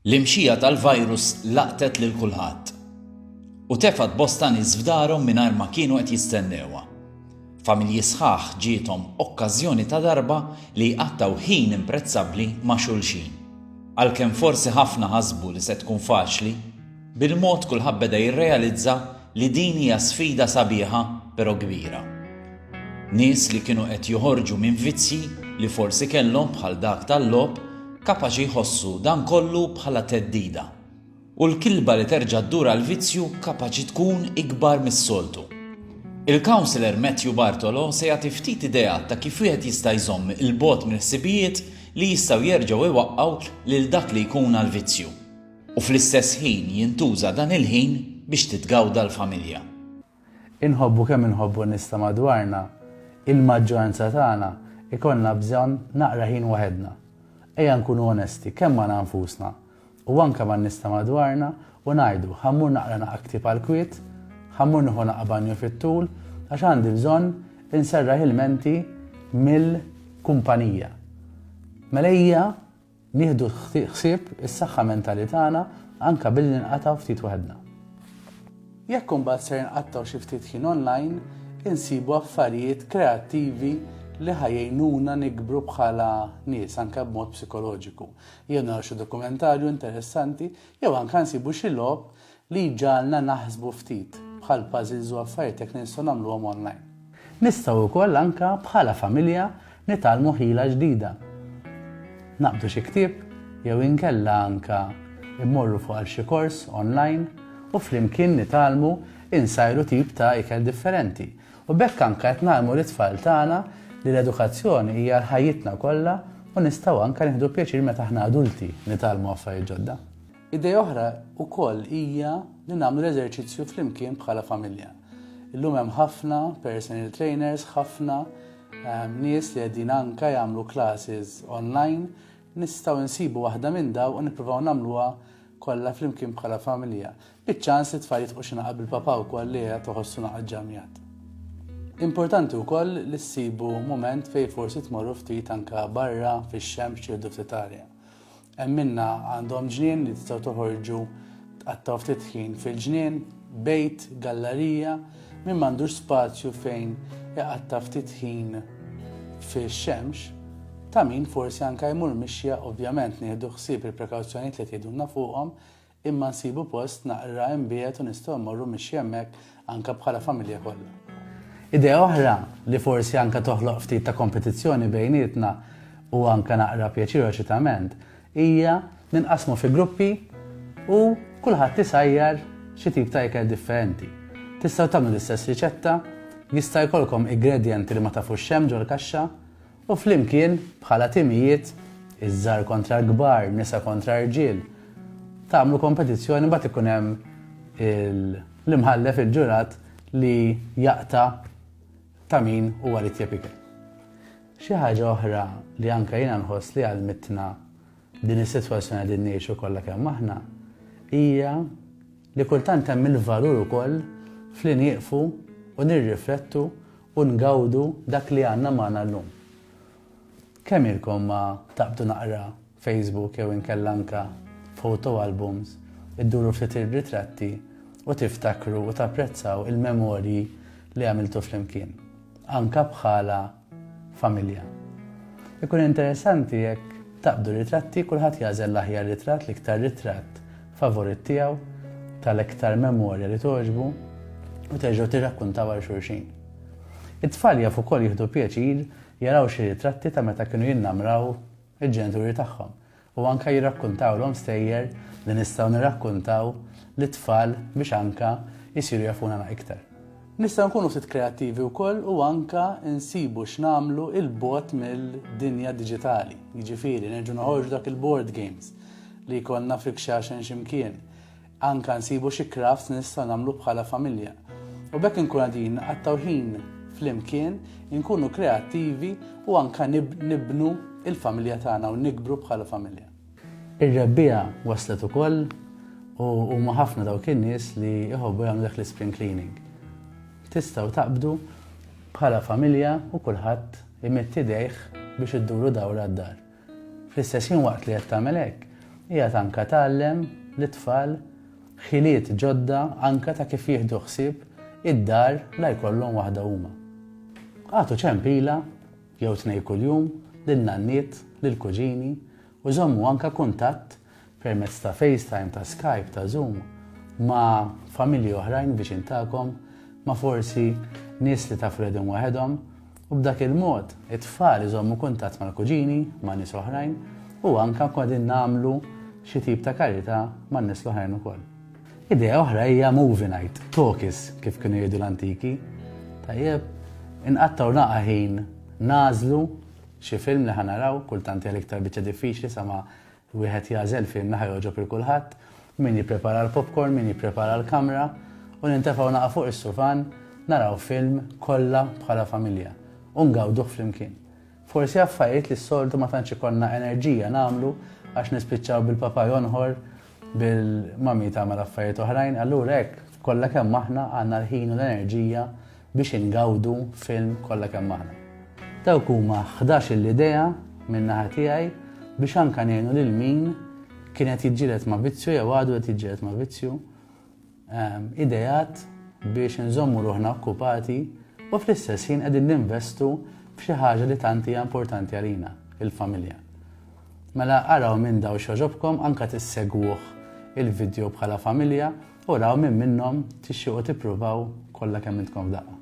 L-imxija tal-virus laqtet lil kulħadd u tefgħet bosta nies f'darhom mingħajr ma kienu qed jistennewha. Familji sħaħ ġiethom okkażjoni ta' darba li jqattgħu ħin imprezzabbli ma' xulxin. Għalkemm forsi ħafna ħasbu li se tkun faċli, Bil-mod kulħadd beda jirrealizza li din hija sfida sabiħa pero kbira. Nies li kienu qed joħorġu minn vizzji li forsi kellhom bħal dak tal-logħob kapaċi jħossu dan kollu bħala theddida. U l-kilba li terġa' ddur għall-vizzju kapaċi tkun ikbar mis-soltu. Il-Councillor Matthew Bartolo se jagħti ftit ideat ta' kif wieħed jista' jżomm il-bogħod mill-ħsibijiet li jistgħu jerġgħu jwaqqgħu lil dak li jkun għall-vizzju. U fl-istess ħin jintuża dan il-ħin biex titgawda l-familja. Inħobbu kemm inħobbu n-nies ta' madwarna, il-maġġoranza tagħna jkollna bżonn naqra ħin waħedna. Ejja nkunu onesti kemm magħna nfusna u anke man-nies ta' madwarna u ngħidu, ħa mmur naqra naqgħa ktieb għall-kwiet, ħa mmur nieħu naqgħa banju fit-tul għax għandi bżonn inserraħ ilmenti mill-kumpanija. Mela ejja Nieħdu ħsieb is-saħħa mentali tagħna anke billi nqatgħu ftit waħedna. Jekk imbagħad ser nqattgħu xi ftit ħin online, insibu affarijiet kreattivi li ħa jgħinuna nikbru bħala nies anke b'mod psikoloġiku. Jew naraw xi dokumentarju interessanti, jew anke nsibu xi logħob Li jġagħalna naħsbu ftit, bħal puzzles u affarijiet hekk li nistgħu nagħmluhom online. Nistgħu wkoll anke bħala familja nitgħallmu ħila ġdida. Naqbdu xi ktieb jew inkella anke mmorru fuq għal xi kors online u flimkien nitgħallmu insajru tip ta' ikel differenti. U b'hekk anke qed ngħallmu lit-tfal tagħna li l-edukazzjoni hija għal ħajjitna kollha u nistgħu anke nieħdu pjaċir meta aħna adulti nitgħallmu affarijiet ġodda. Idea oħra wkoll hija li nagħmlu l-eżerċizzju flimkien bħala familja. Illum hemm ħafna personal trainers, ħafna ehm, nies li qegħdin anka jagħmlu classes online, nistgħu nsibu waħda minn daw u nippruvaw nagħmluha kollha flimkien bħala familja. Biċ-ċans li tfal jitqu xi naqab il-papa wkoll li qed toħossu naqgħad ġamjat. Importanti wkoll li ssibu mument fejn forsi tmorru ftit anka barra fix-xemx jew ftit arja. Hemm minna għandhom ġnien li tistgħu toħorġu tqattgħu ftit ħin fil-ġnien, bejt, gallarija, min m'għandux spazju fejn iqatta' ftit ħin fix-xemx, ta' min forsi anke jmur mixja ovvjament nieħdu ħsieb il-prekawzjonijiet li tgħidulna fuqhom, Imma nsibu post naqra imbiegħed u nistgħu mmorru mixi hemmhekk anke bħala familja kollha. Idea oħra li forsi anke toħloq ftit ta' kompetizzjoni bejnietna u anke naqra pjaċir eċitament hija li nqassmu fi gruppi u kulħadd isajjar xi tip ta' ikel differenti. Tistgħu tagħmlu l-istess riċetta, jista' jkollkom igredjenti li ma tafux x'hemm ġol-kaxxa, U flimkien, bħala timijiet, iż-żgħar kontra l-kbar, nisa kontra rġiel, tagħmlu kompetizzjoni mbagħad ikun hemm l-imħallef, il-ġurat li jaqta' ta' min huwa l-itjeb ikel. Xi ħaġa oħra li anke jiena nħoss li għallmitna din is-sitwazzjoni qegħdin ngħixu kollha kemm aħna hija Li kultant hemm il-valur ukoll f'li nieqfu u nirriflettu u ngawdu dak li għandna magħna llum. Kemm ilkom ma taqbdu naqra Facebook jew inkella anke photo albums, idduru ftit ir-ritratti u tiftakru u tapprezzaw il-memorji li għamiltu flimkien, anke bħala familja. Ikun interessanti jekk taqbdu ritratti kulħadd jagħżel l-aħjar ritratt, l-iktar ritratt favorit tiegħu tal-iktar memorja li toġbu u terġgħu tirrakkuntaw għal xulxin. It-tfal jaf ukoll jieħdu pjaċir jaraw xi ritratti ta' meta kienu jinnamraw il-ġenituri tagħhom. u anke jirrakkuntawlhom stejjer li nistgħu nirrakkuntaw lit-tfal biex anke jsiru jafuna na iktar. Nistgħu nkunu ftit kreattivi wkoll u anke nsibu x'nagħmlu 'il bogħod mill-dinja diġitali, jiġifieri nerġgħu noħorġu dak il-board games li jkollna f'Ikxaxen xi mkien, Anke nsibu xi crafts li nistgħu nagħmlu bħala familja. U b'hekk inkunu qegħdin nqattgħu ħin flimkien, inkunu kreattivi u anke nibnu l-familja tagħna u nikbru bħala familja. Ir-Rebbiegħa waslet ukoll u huma ħafna dawk in-nies li jħobbu jagħmlu dak l-ispring cleaning. Tistgħu taqbdu bħala familja u kulħadd imetti dejh biex idduru dawra d-dar. Fl-istess ħin waqt li qed tagħmel hekk, qiegħed anke tgħallem lit-tfal ħiliet ġodda anke ta' kif jieħdu ħsieb id-dar la jkollhom waħda huma. Agħtu ċempila jew tnej kuljum lin-nanniet, lill-kuġini u żommu anke kuntatt permezz ta' FaceTime, ta' Skype, ta' Zoom, ma' familji oħrajn viċin tagħkom, ma' forsi nies li tafu li qegħdin waħedhom, u b'dak il-mod it-tfal iżommu kuntatt mal-kuġini, ma' nies oħrajn, u anke nkunu qegħdin nagħmlu xi tip ta' karità man-nies l-oħrajn ukoll. Idea oħra hija movie night, talkies kif kienu jgħidu l-antiki. Tajjeb, inqattaw naqa' ħin nagħżlu xi film li ħanaraw, kultant hija l-iktar biċċa diffiċli sama Wieħed jagħżel filmna ħa jogħġob 'il kulħadd, min jipprepara l-popcorn, min jipprepara l-kamra, u nintefgħu naqa' fuq is-sufan, naraw film kollha bħala familja, u ngawduh flimkien. Forsi affarijiet li s-soltu ma tantx ikollna enerġija nagħmlu għax nispiċċaw bil-papa jonħor, bil-mami tagħmel affarijiet oħrajn, allura hekk kollha kemm aħna għandna l-ħin u l-enerġija biex ingawdu film kollha kemm aħna. Dawk huma ħdax-il idea minn naħa tiegħi biex anke ngħinu lil min kien qed jiġġieled ma' vizzju jew għadu qed jiġġieled ma' vizzju, ehm, ideat biex nżommu ruħna okkupati u fl-istess ħin qegħdin ninvestu f'xi ħaġa li tant hija importanti għalina, il-familja. Mela araw minn daw xoġobkom anka tissegwuh il-video bħala familja U raw minn minnhom tixtiequ tippruvaw kollha kemm intkom f'daqqa.